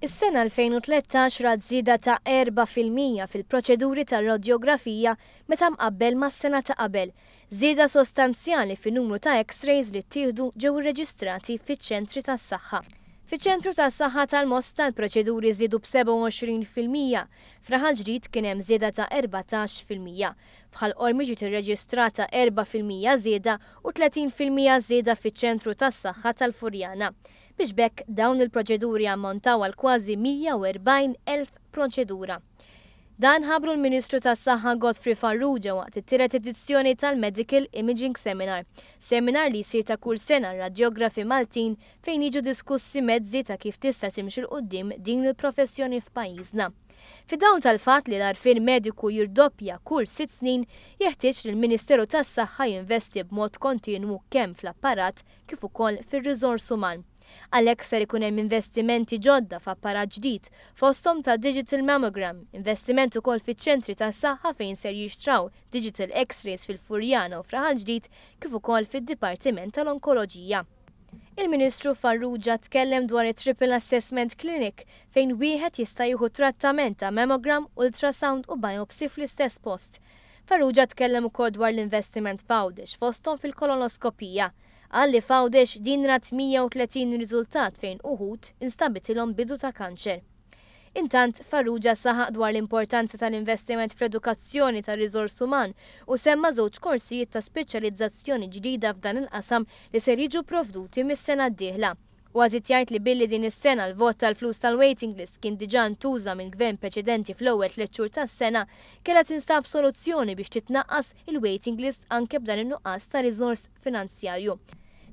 Is-sena 2013 rat żieda ta' erba' fil-mija fil-proċeduri ta' radjografija meta mqabbel mas-sena ta' qabel. Żieda sostanzjali fin-numru ta' X-rays li ttieħdu ġew irreġistrati fiċ-ċentri tas-saħħa. Fiċ-Ċentru tas-Saħħa tal-Mosta l-proċeduri żdiedu b'27 fil-mija. F'Raħal Ġdid kien hemm żieda ta' erbatax fil-mija. F'Ħal Qormi ġiet irreġistrata erba' fil-mija żieda u tletin fil-mija żieda fiċ-Ċentru tas-Saħħa tal-Furjana. biex b'hekk dawn il-proċeduri jammontaw għal kważi 140,000 proċedura. Dan ħabbru l-Ministru tas-Saħħa Godfrey Farrugia waqt it-tielet edizzjoni tal-Medical Imaging Seminar, seminar li jsir ta' kull sena r-radjografi Maltin fejn jiġu diskussi mezzi ta' kif tista' timxi 'l quddiem din il-professjoni f'pajjiżna. Fid-dawl tal-fatt li l-għarfien mediku jirdoppja kull sitt snin, jeħtieġ li l-Ministeru tas-Saħħa jinvesti b'mod kontinwu kemm fl-apparat kif ukoll fir-riżors uman. Għalhekk ser ikun hemm investimenti ġodda f'apparat ġdid, fosthom ta' digital mammogram, investiment ukoll fiċ-ċentri tas-saħħa fejn ser jixtraw digital X-rays fil-Furjana u f'Raħal Ġdid kif ukoll fid-Dipartiment tal-Onkoloġija. Il-Ministru Farrugia tkellem dwar it-Triple Assessment Clinic fejn wieħed jista' jieħu trattament ta' mammogram, ultrasound u biopsy fl-istess post. Farrugia tkellem ukoll dwar l-investiment f'Għawdex, fosthom fil-kolonoskopija. Qal li f'Għawdex din rat 130 riżultat fejn uħud instabitilhom bidu ta' kanċer. Intant, Farrugia saħaq dwar l-importanza tal-investiment fl-edukazzjoni tar-riżors uman u semma żewġ korsijiet ta' speċjalizzazzjoni ġdida f'dan il-qasam li ser jiġu pprovduti mis-sena d-dieħla. Huwa żied jgħid li billi din is-sena l-vot tal-flus tal-waiting list kien diġà ntuża mill-Gvern preċedenti fl-ewwel tliet xhur tas-sena, kellha tinstab soluzzjoni biex titnaqqas il-waiting list anke b'dan in-nuqqas ta' riżors finanzjarju.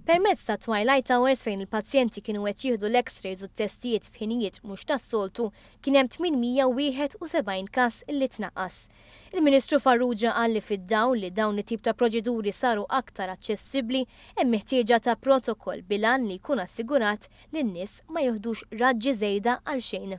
Permezz tat-twilight hours fejn il-pazjenti kienu qed jieħdu l-X-rays u t-testijiet f'ħinijiet mhux tas-soltu, kien hemm 871 każ li tnaqqas. Il-Ministru Farrugia qal li fid-dawl li dawn it-tip ta' proċeduri saru aktar aċċessibbli, hemm il-ħtieġa ta' protokoll bil-għan li jkun assigurat li n-nies ma jiħdux raġġi żejda għalxejn.